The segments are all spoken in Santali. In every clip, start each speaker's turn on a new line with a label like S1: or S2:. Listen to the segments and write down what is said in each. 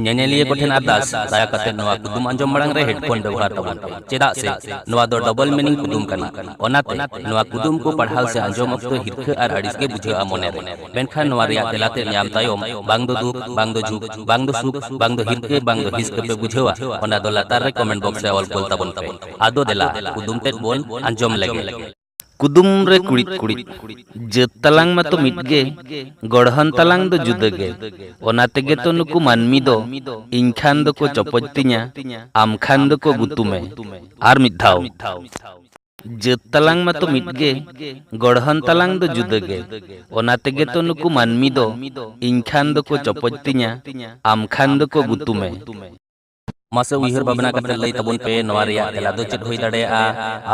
S1: ᱧᱮᱧᱮᱞᱤᱭᱟᱹ ᱠᱚᱴᱷᱮᱱ ᱟᱨᱫᱟᱥ ᱫᱟᱭᱟ ᱠᱟᱛᱮ ᱱᱚᱣᱟ ᱠᱩᱫᱩᱢ ᱟᱸᱡᱚᱢ ᱢᱟᱲᱟᱝ ᱨᱮ ᱦᱮᱰᱯᱷᱳᱱ ᱵᱮᱵᱚᱦᱟᱨ ᱛᱟᱵᱚᱱ ᱯᱮ ᱪᱮᱫᱟᱜ ᱥᱮ ᱱᱚᱣᱟ ᱫᱚ ᱰᱚᱵᱚᱞ ᱢᱤᱱᱤᱝ ᱠᱩᱫᱩᱢ ᱠᱟᱱᱟ ᱚᱱᱟᱛᱮ ᱱᱚᱣᱟ ᱠᱩᱫᱩᱢ ᱠᱚ ᱯᱟᱲᱦᱟᱣ ᱥᱮ ᱟᱸᱡᱚᱢ ᱚᱠᱛᱚ ᱦᱤᱨᱠᱷᱟᱹ ᱟᱨ ᱟᱹᱲᱤᱥ ᱜᱮ ᱵᱩᱡᱷᱟᱹᱜᱼᱟ ᱢᱚᱱᱮ ᱨᱮ ᱢᱮᱱᱠᱷᱟᱱ ᱱᱚᱣᱟ ᱨᱮᱭᱟᱜ ᱛᱮᱞᱟ ᱛᱮ ᱧᱟᱢ ᱛᱟᱭᱚᱢ ᱵᱟᱝ ᱫᱚ ᱫᱩᱠ ᱵᱟᱝ ᱫᱚ ᱡᱷᱩᱠ ᱵᱟᱝ ᱫᱚ ᱥᱩᱠ ᱵᱟᱝ ᱫᱚ ᱦᱤᱨᱠᱷᱟᱹ ᱵᱟᱝ ᱫᱚ ᱦᱤᱥᱠᱟᱹ ᱯᱮ ᱵᱩᱡᱷᱟᱹᱣᱟ ᱚᱱᱟ ᱫᱚ ᱞᱟᱛᱟᱨ ᱨᱮ ᱠᱚᱢᱮᱱᱴ ᱵᱚᱠᱥ ᱨᱮ ᱚᱞ ᱠᱚᱞ ᱛᱟᱵᱚᱱ ᱯᱮ ᱟᱫᱚ ᱫᱮᱞᱟ ᱠᱩᱫᱩᱢ ᱛᱮᱫ ᱵᱚᱱ ᱟᱸᱡᱚᱢ ᱞᱮᱜᱮ ᱠᱩᱫᱩᱢ ᱨᱮ ᱠᱩᱲᱤᱫ ᱠᱩᱲᱤᱫ ᱡᱟᱹᱛ ᱛᱟᱞᱟᱝ ᱢᱟᱛᱚ ᱢᱤᱫ ᱜᱮ ᱜᱚᱲᱦᱚᱱ ᱛᱟᱞᱟᱝ ᱫᱚ ᱡᱩᱫᱟᱹ ᱜᱮ ᱚᱱᱟ ᱛᱮᱜᱮ ᱛᱚ ᱱᱩᱠᱩ ᱢᱟᱹᱱᱢᱤ ᱫᱚ ᱤᱧ ᱠᱷᱟᱱ ᱫᱚᱠᱚ ᱪᱚᱯᱚᱡ ᱛᱤᱧᱟ ᱟᱢ ᱠᱷᱟᱱ ᱫᱚᱠᱚ ᱜᱩᱛᱩᱢᱮ ᱟᱨ ᱢᱤᱫ ᱫᱷᱟᱣ ᱡᱟᱹᱛ ᱛᱟᱞᱟᱝ ᱢᱟᱛᱚ ᱢᱤᱫ ᱜᱮ ᱜᱚᱲᱦᱚᱱ ᱛᱟᱞᱟᱝ ᱫᱚ ᱡᱩᱫᱟᱹ ᱜᱮ ᱚᱱᱟ ᱛᱮᱜᱮ ᱛᱚ ᱱᱩᱠᱩ ᱢᱟᱹᱱᱢᱤ ᱫᱚ ᱤᱧ ᱠᱷᱟᱱ ᱫᱚᱠᱚ ᱪᱚᱯᱚᱡ ᱛᱤᱧᱟ ᱟᱢ ᱠᱷᱟᱱ ᱫᱚᱠᱚ ᱜᱩᱛᱩᱢᱮ ᱢᱟᱥᱮ ᱩᱭᱦᱟᱹᱨ ᱵᱷᱟᱵᱽᱱᱟ ᱠᱟᱛᱮ ᱞᱟᱹᱭ ᱛᱟᱵᱚᱱ ᱯᱮ ᱱᱚᱣᱟ ᱨᱮᱭᱟᱜ ᱛᱮᱞᱟ ᱫᱚ ᱪᱮᱫ ᱦᱩᱭ ᱫᱟᱲᱮᱭᱟᱜᱼᱟ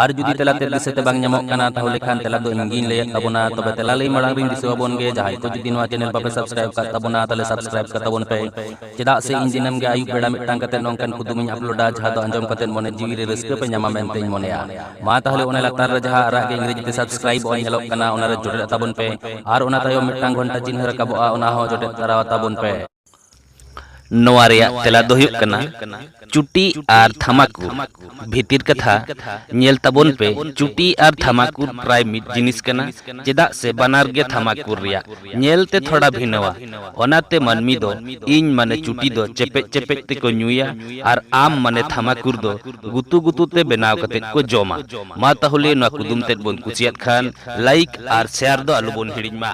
S1: ᱟᱨ ᱡᱩᱫᱤ ᱛᱮᱞᱟ ᱛᱮ ᱫᱤᱥᱟᱹᱛᱮ ᱵᱟᱝ ᱧᱟᱢᱚᱜ ᱠᱟᱱᱟ ᱛᱟᱦᱚᱞᱮ ᱠᱷᱟᱱ ᱛᱮᱞᱟ ᱫᱚ ᱤᱧ ᱜᱤᱧ ᱞᱟᱹᱭᱮᱫ ᱛᱟᱵᱚᱱᱟ ᱛᱚᱵᱮ ᱛᱮᱞᱟ ᱞᱟᱹᱭ ᱢᱟᱲᱟᱝ ᱨᱤᱧ ᱫᱤᱥᱟᱹ ᱟᱵᱚᱱ ᱜᱮ ᱡᱟᱦᱟᱸᱭ ᱠᱚ ᱡᱩᱫᱤ ᱱᱚᱣᱟ ᱪᱮᱱᱮᱞ ᱵᱟᱯᱮ ᱥᱟᱵᱥᱠᱨᱟᱭᱤᱵ ᱠᱟᱜ ᱛᱟᱵᱚᱱᱟ ᱛᱟᱦᱚᱞᱮ ᱥᱟᱵᱥᱠᱨᱟᱭᱤᱵ ᱠᱟᱜ ᱛᱟᱵᱚᱱ ᱯᱮ ᱪᱮᱫᱟᱜ ᱥᱮ ᱤᱧ ᱫᱤᱱᱟᱹᱢ ᱜᱮ ᱟᱹᱭᱩᱵ ᱵᱮᱲᱟ ᱢᱤᱫᱴᱟᱝ ᱠᱟᱛᱮ ᱱᱚᱝᱠᱟᱱ ᱠᱩᱫᱩᱢ ᱤᱧ ᱟᱯᱞᱳᱰᱟ ᱡᱟᱦᱟᱸ ᱫᱚ ᱟᱸᱡᱚᱢ ᱠᱟᱛᱮ ᱢᱚᱱᱮ ᱡᱤᱣᱤ ᱨᱮ ᱨᱟᱹᱥᱠᱟᱹ ᱯᱮ ᱧᱟᱢᱟ ᱢᱮᱱᱛᱮ ᱤᱧ ᱢᱚᱱᱮᱭᱟ ᱢᱟ ᱛᱟᱦᱚᱞᱮ ᱚᱱᱟ ᱞᱟᱛᱟᱨ ᱨᱮ ᱡᱟᱦᱟᱸ ᱟᱨᱟᱜ ᱜᱮ ᱤᱝᱨᱮᱡᱤ ᱛᱮ ᱥᱟᱵᱥᱠᱨᱟᱭᱤᱵ ᱚᱞ ᱧᱮᱞᱚᱜ ᱠᱟᱱᱟ ᱚᱱᱟ ᱨᱮ ᱡᱚᱴᱮᱫ ᱛᱟᱵᱚᱱ ᱯᱮ ᱟᱨ ᱚᱱᱟ ᱛᱟᱭᱚᱢ ᱢᱤᱫᱴᱟᱝ ᱜᱷᱚᱱᱴᱟ ᱪᱤᱱᱦᱟᱹ ᱨᱟᱠᱟᱵᱚᱜᱼᱟ ᱚᱱᱟ ᱦᱚᱸ ᱡᱚᱴᱮᱫ ᱛᱟᱨᱟ ᱛᱟᱵᱚᱱ ᱯᱮ ᱱᱚᱣᱟ ᱨᱮᱭᱟᱜ ᱛᱮᱞᱟ ᱫᱚ ᱦᱩᱭᱩᱜ ᱠᱟᱱᱟ ᱪᱩᱴᱤ ᱟᱨ ᱛᱷᱟᱢᱟᱠᱩᱨ᱾ ᱵᱷᱤᱛᱤᱨ ᱠᱟᱛᱷᱟ ᱧᱮᱞ ᱛᱟᱵᱚᱱ ᱯᱮ ᱪᱩᱴᱤ ᱟᱨ ᱛᱷᱟᱢᱟᱠᱩᱨ ᱯᱨᱟᱭ ᱢᱤᱫ ᱡᱤᱱᱤᱥ ᱠᱟᱱᱟ ᱪᱮᱫᱟᱜ ᱥᱮ ᱵᱟᱱᱟᱨ ᱜᱮ ᱛᱷᱟᱢᱟᱠᱩᱨ ᱨᱮᱭᱟᱜ ᱧᱮᱞ ᱛᱮ ᱛᱷᱚᱲᱟ ᱵᱷᱤᱱᱟᱹᱣᱟ᱾ ᱚᱱᱟ ᱛᱮ ᱢᱟᱹᱱᱢᱤ ᱫᱚ ᱤᱧ ᱢᱟᱱᱮ ᱪᱩᱴᱤ ᱫᱚ ᱪᱮᱯᱮᱡ ᱪᱮᱯᱮᱡ ᱛᱮ ᱠᱚ ᱧᱩᱭᱟ ᱟᱨ ᱟᱢ ᱢᱟᱱᱮ ᱛᱷᱟᱢᱟᱠᱩᱨ ᱫᱚ ᱜᱩᱛᱩ ᱜᱩᱛᱩ ᱛᱮ ᱵᱮᱱᱟᱣ ᱠᱟᱛᱮ ᱠᱚ ᱡᱚᱢᱟ᱾ ᱢᱟ ᱛᱟᱦᱚᱞᱮ ᱱᱚᱣᱟ ᱠᱩᱫᱩᱢ ᱛᱮᱫ ᱵᱚᱱ ᱠᱩᱥᱤᱭᱟᱫ ᱠᱷᱟᱱ ᱞᱟᱭᱤᱠ ᱟᱨ ᱥᱮᱭᱟᱨ ᱫᱚ ᱟᱞᱚ ᱵᱚᱱ ᱦᱤᱲᱤᱧ ᱢᱟ᱾